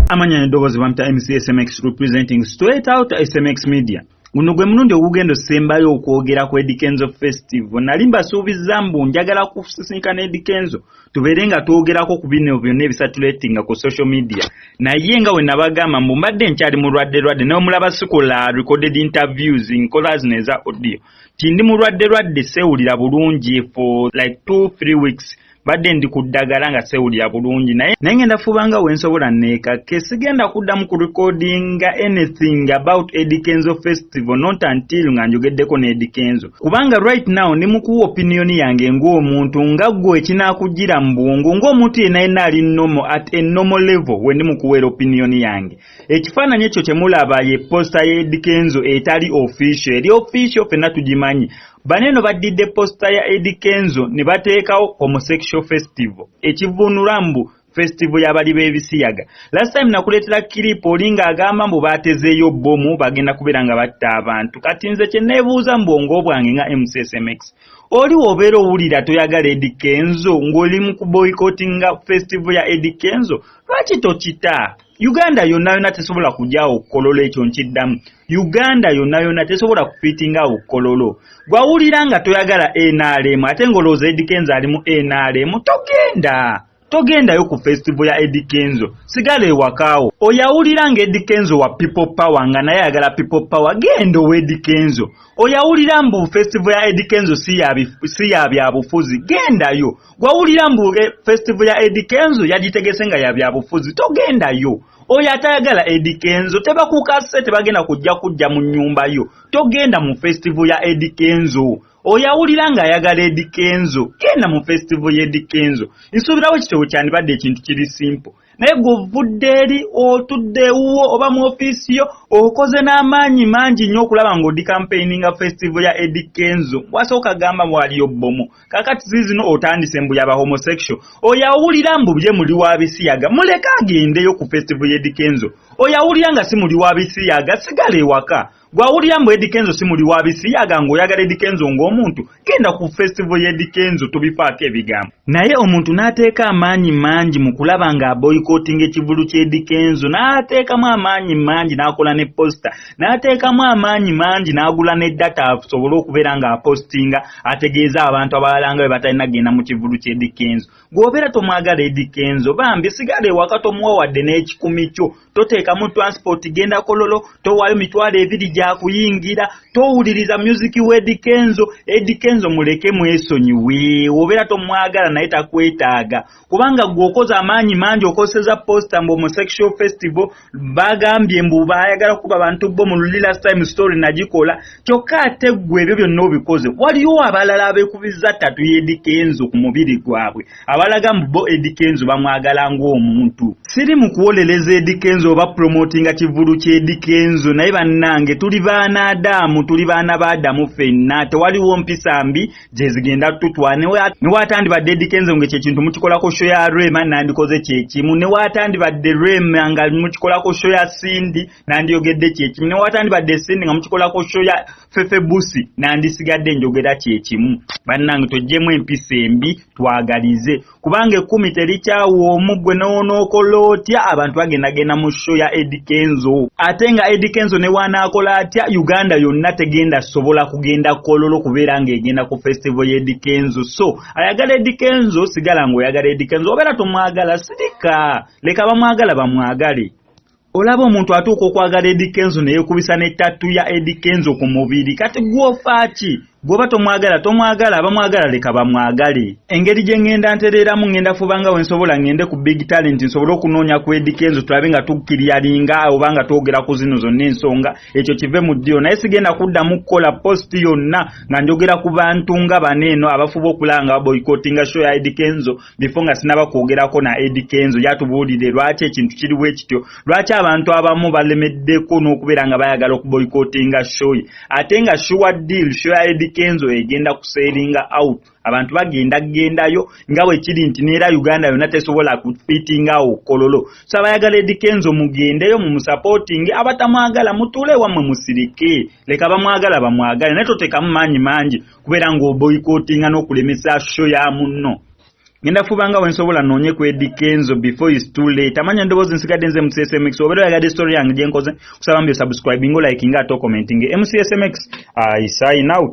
amanya n'eddoboozi bamita mc smx representing straight out smx media guno gwe mulundi ogugenda osembayo okwogera ku edikenzo festival nali mbasuubizza mbu njagala kusisinkana edikenzo tubeere nga twogerako ku bino byonna ebisatuletinga ku social media naye nga wenabagamba mbu mbadde nkyali mulwadde lwadde nomulaba sikola recorded interviews nkola zino eza audio tindi mulwadde lwadde sewulira bulungi for like two three weeks badde ndi ku ddagala nga sewulira bulungi naye naye ngenda fubanga wensobola neekakke sigenda kuddamu ku recordinga anything about edi kenzo festival not until nga njogeddeko ne edi kenzo kubanga right now ndi mukuwa opiniyoni yange ng'omuntu nga ggwe ekinaakujjira mu bwongo ng'omuntu yenna yenna ali nomo at a nomo level we ndi mukuweera opiniyoni yange ekifaananyi ekyo kye mulaba ye posita y'edi kenzo etali official eri official fenna tugimanyi bano eno baddidde posita ya edi kenzo ne bateekawo homosexual festival ekivuunula mbu festival y'abali b'ebisiyaga last time nakuleetera kiripu oli ng'agamba mbu baatezeeyo bbomu bagenda kubeera nga batta abantu kati nze kye neebuuza mu bwongo bwange nga mcsmx oli w'obeera owulira toyagala edi kenzo ng'oli mu kuboyikotinga festival ya edi kenzo lwaki tokita uganda yonna yonna tesobola kujaawo kololo ekyo nkiddamu uganda yonna yonna tesobola kufitinga awo kololo gwawulira nga toyagala nrm ate ngaolowooza edikenzo ali mu nrm togenda togendayo ku festival ya Eddie Kenzo sigala ewakaawo oyawulira nga Eddie Kenzo wa people power nga naye ayagala people power genda owa Eddie Kenzo oyawulira mbu festival ya Eddie Kenzo si ya byabufuzi gendayo gwawulira mbu e, festival ya Eddie Kenzo yagitegese nga ya byabufuzi togendayo oyo atayagala Eddie Kenzo tebakukase tebagenda kujja kujja mu nyumba yo togenda mu festival ya Eddie Kenzo oyo awulira nga ayagala Eddie Kenzo genda mu festival ya Eddie Kenzo nsuubirawo ekitabo kyandibadde ekintu kiri simple naye gwovudde eri otudde ewuwo oba mu ofiisi yo okoze n'amaanyi mangi nnyo okulaba ng'odi kampeininga festival ya edi kenzo wasooka gamba waliyo bbomu kakati ziizino otandise mbu yaba homosexual oyo awulira mbu bye muli wa bisiyaga muleke agendeyo ku festival ya edi kenzo oyo awulira nga si muli wa bisiyaga sigala ewaka Gwawulira mbu Eddy Kenzo si muli wa bisiyaga ng'oyagala Eddy Kenzo ng'omuntu genda ku festival ya Eddy Kenzo tobifaako ebigambo naye omuntu n'ateeka amaanyi mangi mu kulaba ng'aboyikootinga ekivulu kya Eddy Kenzo n'ateekamu amaanyi mangi n'akola ne posita n'ateekamu amaanyi mangi n'agula ne data asobole okubeera ng'apositinga ategeeza abantu abalala nga bwe batalina kugenda mu kivulu kya Eddy Kenzo gw'obeera tomwagala Eddy Kenzo bambi sigala ewaka tomuwa wadde n'ekikumi kyo toteekamu transport genda kololo towaayo mitwalo ebiri gyakuyingira towuliriza music wa edikenzo edikenzo muleke mwesonyiwe obeera tomwagala naye takwetaaga kubanga gwe okoze amaanyi mangi okoseza posta mbu omusexual festival bagambye mbu bayagala kuba bantu bo mu luli last time story nagikola kyokka ate gwe ebyo byonna obikoze waliwo abalala abekubiza tatu yedikenzo ku mubiri gwabwe abalaga mbu bo Eddy Kenzo bamwagala ng'omuntu siri mu kuwolereza Eddy Kenzo oba promotinga kivulu kya Eddy Kenzo naye bannange tuli baana Adamu tuli baana ba Adamu fenna tewaliwo mpisa mbi gye zigenda tutwa ne waatandibadde Eddy Kenzo nga ekyo ekintu mukikolako sho ya Rema nandikoze kye kimu ne waatandibadde Rema nga mukikolako sho ya Cindy nandiyogedde kye kimu ne waatandibadde Cindy nga mukikolako sho ya fefe busi nandisigadde njogera kyekimu bannange tojjemu empisa embi twagalize kubanga ekkumi terikyawa omu gwe nowonookola otya abantu bagendagenda mu sho ya edi kenzo ate nga edi kenzo ne wanaakola atya uganda yonna tegenda sobola kugenda kololo kubeera ng'egenda ku festivo y'edi kenzo so ayagala edi kenzo sigala ng'oyagala edi kenzo obeera tomwagala sirika leka bamwagala bamwagale olaba omuntu atuuka okwagala edi kenzo neyekubisa ne tattu ya edi kenzo ku mubiri kati gwofa ki gwoba tomwagala tomwagala abamwagala leka bamwagale engeri gye ŋŋenda ntereeramu ŋŋenda fuba nga wensobola ŋŋende ku big talent nsobole okunoonya ku edi kenzo tulabe nga tukkiryalinga oba nga twogera ku zino zonna ensonga ekyo kive mu ddiyo naye sigenda kuddamu kukola post yonna nga njogera ku bantu nga bano eno abafuba okulaba nga baboyikotinga show ya edi kenzo before nga sinaba kwogerako na edi kenzo yatubuulire lwaki ekintu kiri bwe kityo lwaki abantu abamu balemeddeko n'okubeera nga bayagala okuboyikotinga shoyi ate nga sure deal sho ya edi kenzo egenda kuseringa out abantu bagenda gendayo nga bwekiri nti neera uganda yonna tesobola kufitinga awo kololo so abayagala edi kenzo mugendeyo mumusapotinge abatamwagala mutuule wammwe musirike leka bamwagala bamwagale naye totekamu maanyi mangi kubeera ng'oboyikotinga n'okulemesa sho ya munno ngenda fubanga wensobola noonye ku edi kenzo before is too late amanya ndowoozi nsigadde nze mcsmx obeera oyagadde story yange gyenkoze kusaba mbi osubscribing olike nga ate okomentinge mcsmx i sign out